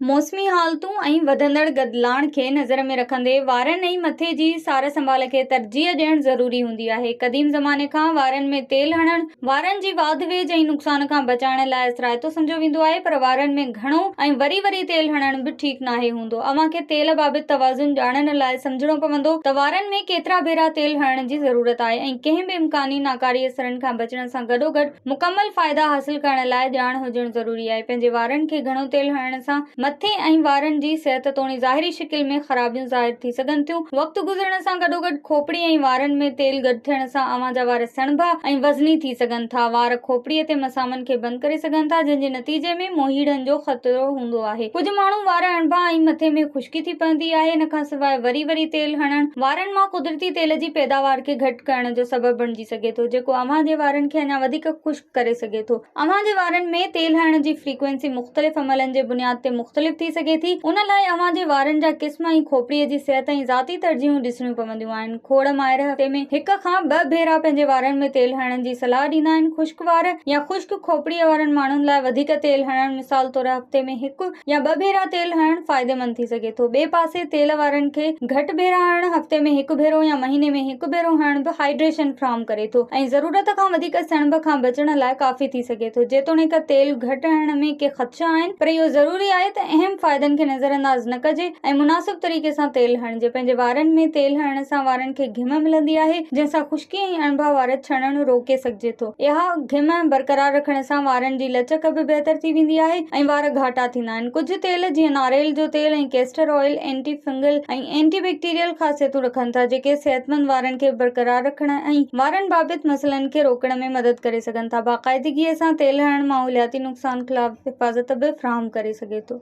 موسمي حالتون ۽ وڌندڙ گدلاڻ کي نظر ۾ رکندي وارن ۽ مٿي جي سار سنڀال کي ترجيح ڏيڻ ضروري هوندي آهي. قديم زماني کان وارن ۾ تيل هڻڻ وارن جي واڌ ويجهه ۽ نقصان کان بچائڻ لاء اثرائتو سمجهيو ويندو آهي پر وارن ۾ گهڻو ۽ وري وري تيل هڻڻ به ٺيڪ ناهي هوندو. اوهان کي تيل بابت توازن ڄاڻڻ لاء سمجهڻو پوندو ته وارن ۾ ڪيترا ڀيرا تيل هڻڻ جي ضرورت آهي ۽ ڪنهن به امڪاني ناڪاري اثرن کان بچڻ سان گڏوگڏ مڪمل فائدا حاصل ڪرڻ لاء ڄاڻ هجڻ ضروري آهي. پنهنجي وارن کي گهڻو تيل هڻڻ سان مٿي ۽ وارن جي صحت توڻي ظاهري شڪل ۾ خرابيون ظاهر ٿي سگهن ٿيون. وقت گذرڻ سان گڏوگڏ کوپڙي ۽ وارن ۾ تيل گڏ ٿيڻ سان اوهان جا وار سڻڀا ۽ وزني ٿي سگهن ٿا. وار کوپڙي تي مسامن کي بند ڪري سگهن ٿا جنهن جي نتيجي ۾ موهيڙن جو خطرو هوندو آهي. ڪجهه ماڻهو وار اڻڀا ۽ مٿي ۾ خشڪي ٿي پوندي آهي. ان کان سواء وري وري تيل هڻڻ وارن مان قدرتي تيل جي پيداوار کي گهٽ ڪرڻ جو سبب بڻجي ٿو. ڪري سگهي ٿو جيڪو اوهان جي وارن کي اڃا وڌيڪ خشڪ ڪري سگهي ٿو. اوهان جي وارن ۾ تيل هڻڻ جي فريڪوئنسي مختلف عملن جي بنياد تي مختلف ٿي سگهي ٿي. ان لاء اوهان جي وارن جا قسم ۽ کوپڙيء جي صحت ۽ ذاتي ترجيحون ڏسڻيون پونديون آهن. کوڙ ماهر هفتي ۾ هڪ کان ٻه ڀيرا پنهنجي وارن ۾ تيل هڻڻ جي صلاح ڏيندا آهن. خشڪ وار يا خشڪ کوپڙيء وارن ماڻهن لاء وڌيڪ تيل هڻڻ مثال طور هفتي ۾ هڪ يا ٻه ڀيرا تيل هڻڻ فائديمند ٿي سگهي ٿو. ٻئي پاسي تيل وارن کي گهٽ ڀيرا هڻڻ، هفتي ۾ هڪ ڀيرو يا مهيني ۾ هڪ ڀيرو هڻڻ به هائيڊريشن فراهم ڪري ٿو ۽ ضرورت کان وڌيڪ سڻڀ کان بچڻ لاء ڪافي ٿي سگهي ٿو. جيتوڻيڪ تيل گهٽ هڻڻ ۾ ڪي خدشا آهن پر اهو ضروري آهي ته اهم فائدن کي نظرانداز نه ڪجي ۽ مناسب طريقي سان تيل هڻجي. جي پنهنجي وارن ۾ تيل هڻڻ سان وارن کي گهم ملندي آهي، جنهن سان خشڪي ۽ اڻڀا وار ڇڻڻ روڪي سگهجي ٿو. اها گهم برقرار رکڻ سان وارن جي لچڪ به بهتر ٿي ويندي آهي ۽ وار گهاٽا ٿيندا آهن. ڪجهه تيل جيئن ناريل جو تيل ۽ castor oil anti fungal ۽ anti bacterial خاصيتون رکن ٿا، جيڪي صحتمند وارن کي برقرار رکڻ ۽ وارن بابت مسئلن کي روڪڻ ۾ مدد ڪري سگهن ٿا. باقاعدگيء سان تيل هڻڻ ماحولياتي نقصان خلاف حفاظت به فراهم ڪري سگهي ٿو.